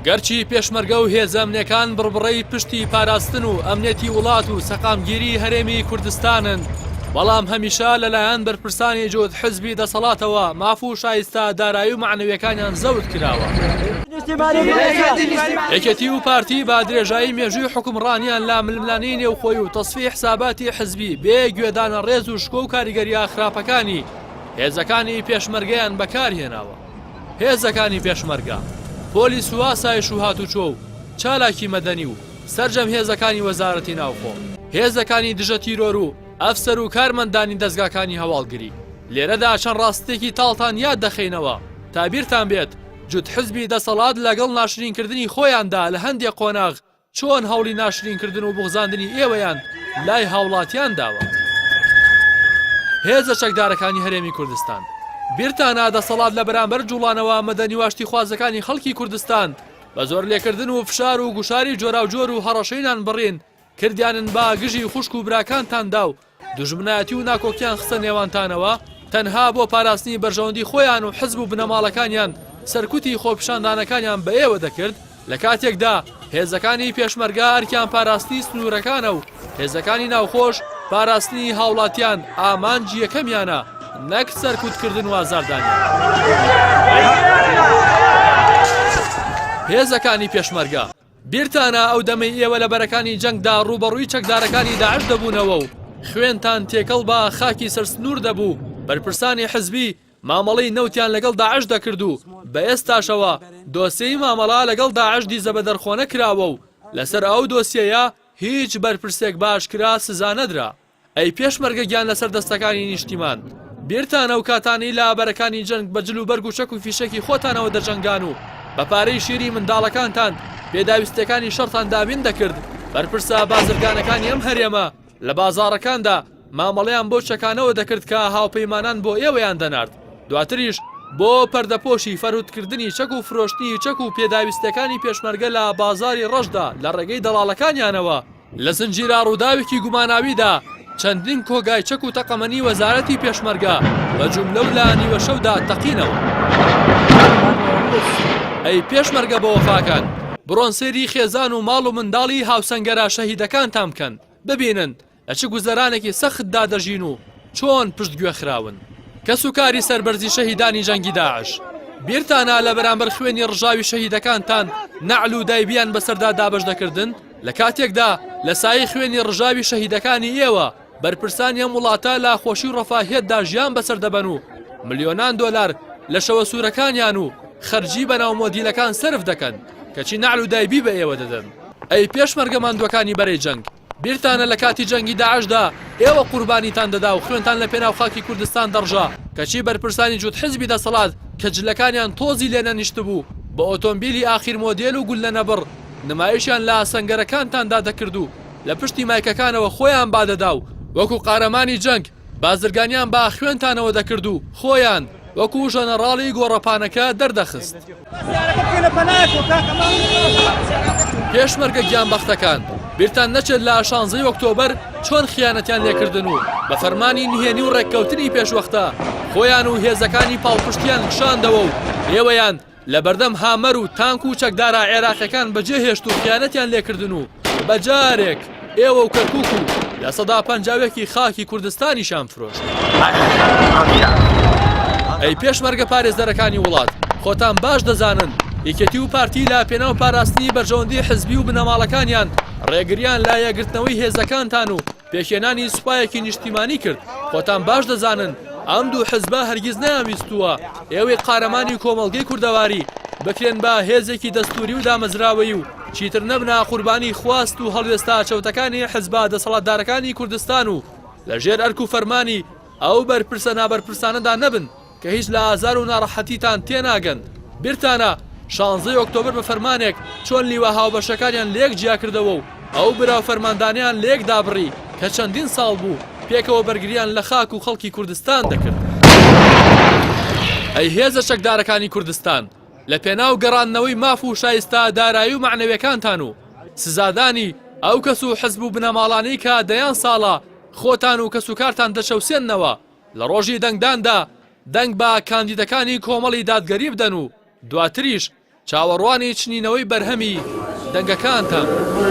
گەرچی پێشمەرگە و هێزەمنەکان بڕبڕەی پشتی پاراستن و ئەمنێتی وڵات و سەقامگیری هەرێمی کوردستانن بەڵام هەمیشە لەلایەن بەرپرسانی جوود حزبی دەسەڵاتەوە ماف و شایستا دارایی و معنەوەکانیان زەوت کراوە یەکەتی و پارتی با درێژایی مێژووی حکومڕانیان لا ململانی نێوخۆی و تەسفی حساباتی حزبی بێ گوێدانە ڕێز و شکۆ و کاریگەریە خراپەکانی هێزەکانی پێشمەرگەیان بەکارهێناوە. هێزەکانی پێشمەرگە، پۆلی سواسایش و هاتوچۆ و چالاکی مەدەنی و سەرجەم هێزەکانی وەزارەتی ناوخۆ، هێزەکانی دژە تیرۆر و ئەفسەر و کارمەندانی دەزگاکانی هەواڵگری، لێرەدا چەند ڕاستیەکی تاڵتان یاد دەخەینەوە تا بیرتان بێت جوت حزبی دەسەڵات لەگەڵ ناشرینکردنی خۆیاندا لە هەندێ قۆناغ چۆن هەوڵی ناشرین کردن و بوغزاندنی ئێوەیان لای هاوڵاتیان داوە هێزە چەکدارەکانی هەرێمی کوردستان؟ بیرتانە دەسەڵات لە بەرامبەر جوڵانەوە مەدەنی و ئاشتیخوازەکانی خەڵکی کوردستان بە زۆر لێکردن و فشار و گوشاری جۆراوجۆر و هەڕەشەی نانبڕین کردیانن با گژی خوشک و براکانتاندا و دوژمنایەتی و ناکۆکیان خستە نێوانتانەوە، تەنها بۆ پاراستنی بەرژەوەندی خۆیان و حزب و بنەماڵەکانیان سەرکوتی خۆپیشاندانەکانیان بە ئێوە دەکرد، لە کاتێکدا هێزەکانی پێشمەرگە ئەرکیان پاراستنی سنوورەکانە و هێزەکانی ناوخۆش پاراستنی هاوڵاتیان ئامانجی یەکەمیانە نەک سەرکوتکردن و ئازاردانیان. هێزەکانی پێشمەرگە. بیرتانە ئەو دەمەی ئێوە لە بەرەکانی جەنگدا ڕووبەڕووی چەکدارەکانی داعش دەبوونەوە و خوێنتان تێکەڵ بە خاکی سەر سنوور دەبوو، بەرپرسانی حزبی مامەڵەی نەوتیان لەگەڵ داعش دەکرد و بە ئێستاشەوە دۆسێی مامەڵە لەگەڵ داعش دیزە بە دەرخۆنەکراوە و لەسەر ئەو دۆسیەیە هیچ بەرپرسێک بە ئاشکرا سزا نەدرا. ئەی پێشمەرگە گیان لەسەر دەستەکانی نیشتیمان بیرتان ئەو کاتانەی لە ئابەرەکانی جەنگ بە جل و بەرگ و چەک و فیشەکی خۆتانەوە دەجەنگان و بە پارەی شیری منداڵەکانتان پێداویستیەکانی شەڕتان دابین دەکرد بەرپرسە بازرگانەکانی ئەم هەرێمە لە بازاڕەکاندا مامەڵەیان بەو چەکانەوە دەکرد کە هاوپەیمانان بۆ ئێوەیان دەنارد دواتریش بۆ پەردەپۆشی فەرهودکردنی چەک و فرۆشتنی چەک و پێداویستیەکانی پێشمەرگە لە بازاری ڕەشدا لە ڕێگەی دەڵاڵەکانیانەوە لە زنجیرە ڕووداوێکی گوماناویدا چەندین کۆگای چەک و تەقەمەنی وەزارەتی پێشمەرگە بە جوملە و لە نیوەشەودا تەقینەوە. ئەی پێشمەرگە بەوەفاکان، بڕۆن سەیری خێزان و ماڵ و منداڵی هاوسەنگەرە شەهیدەکانتان بکەن، ببینن لە چ گوزەرانێکی سەختدا دەژین و چۆن پشتگوێ خراون. کەسوکاری سەربەرزی شەهیدانی جەنگی داعش بیرتانە لە بەرامبەر خوێنی ڕژاوی شەهیدەکانتان نەعل و دایبیان بەسەردا دابەش دەکردن؟ لە کاتێکدا لە سایەی خوێنی ڕژاوی شەهیدەکانی ئێوە بەرپرسانی ئەم وڵاتە لە خۆشی و ڕەفاهیەتدا ژیان بەسەر دەبەن و ملیۆنان دۆلار لە شەوە سوورەکانیان و خەرجی بەناو مۆدیلەکان سرف دەکەن کەچی نەعل و دایبی بە ئێوە دەدەن ئەی پێشمەرگە ماندووەکانی بەرەی جەنگ بیرتانە لە کاتی جەنگی داعشدا ئێوە قوربانیتان دەدا و خوێنتان لە پێناو خاکی کوردستان دەڕژا کەچی بەرپرسانی جووت حزبی دەسەڵات کە جلەکانیان تۆزی لێ نەنیشتبوو بە ئۆتۆمبیلی ئاخیر مۆدێل و گوللەنەبڕ نمایشیان لە ئاسنگەرەکانتاندا دەکرد و لە پشتی مایکەکانەوە خۆیان بادەدا و وەکو قارەمانی جەنگ بازرگانیان بە ئاخوێنتانەوە دەکرد و خۆیان وەکو ژەنەڕاڵی گۆڕەپانەکە دەردەخست. پێشمەرگە گیانبەختەکان، بیرتان نەچێت لە شانزەی ئۆکتۆبەر چۆن خیانەتیان لێکردن و بە فەرمانی نهێنی و ڕێککەوتنی پێشوەختە خۆیان و هێزەکانی پاڵپشتیان کشاندەوە و ئێوەیان لە بەردەم هامەر و تانک و چەکدارە عێراقیەکان بەجێ هێشت و خیانەتیان لێکردن و بە جارێک ئێوە و کەرکوک و لە سەدا پەنجاوێکی خاکی کوردستانیشان فرۆشت. ئەی پێشمەرگە پارێزەرەکانی وڵات خۆتان باش دەزانن یەکێتی و پارتی لە پێناو پاراستنی بەرژەوەندی حزبی و بنەماڵەکانیان ڕێگریان لە یەکگرتنەوەی هێزەکانتان و پێکهێنانی سوپایەکی نیشتیمانی کرد، خۆتان باش دەزانن ئەم دوو حزبە هەرگیز نەیانویستووە ئێوەی قارەمانی کۆمەڵگەی کوردەواری بکرێن بە هێزێکی دەستووری و دامەزراوەیی و چیتر نەبنە قوربانی خواست و هەڵوێستە چەوتەکانی حزبە دەسەڵاتدارەکانی کوردستان و لەژێر ئەرک و فەرمانی ئەو بەرپرسە نابەرپرسانەدا نەبن. کە هیچ لە ئازار و ناڕەحەتیتان تێناگەن، بیرتانە شانزەی ئۆکتۆبەر بە فەرمانێک چۆن لیوا هاوبەشەکانیان لەیەک جیاکردەوە و ئەو برا و فەرماندانەیان لەیەک دابڕی کە چەندین ساڵ بوو پێکەوە بەرگریان لە خاک و خەڵکی کوردستان دەکرد. ئەی هێزە چەکدارەکانی کوردستان، لە پێناو گەڕاندنەوەی ماف و شایستە دارایی و مەعنەویەکانتان و سزادانی ئەو کەس و حزب و بنەماڵانەی کە دەیان ساڵە خۆتان و کەسوکارتان دەچەوسێننەوە، لە ڕۆژی دەنگداندا دەنگ بە کاندیدەکانی کۆمەڵی دادگەری بدەن و دواتریش چاوەڕوانی چنینەوەی بەرهەمی دەنگەکانتان بن.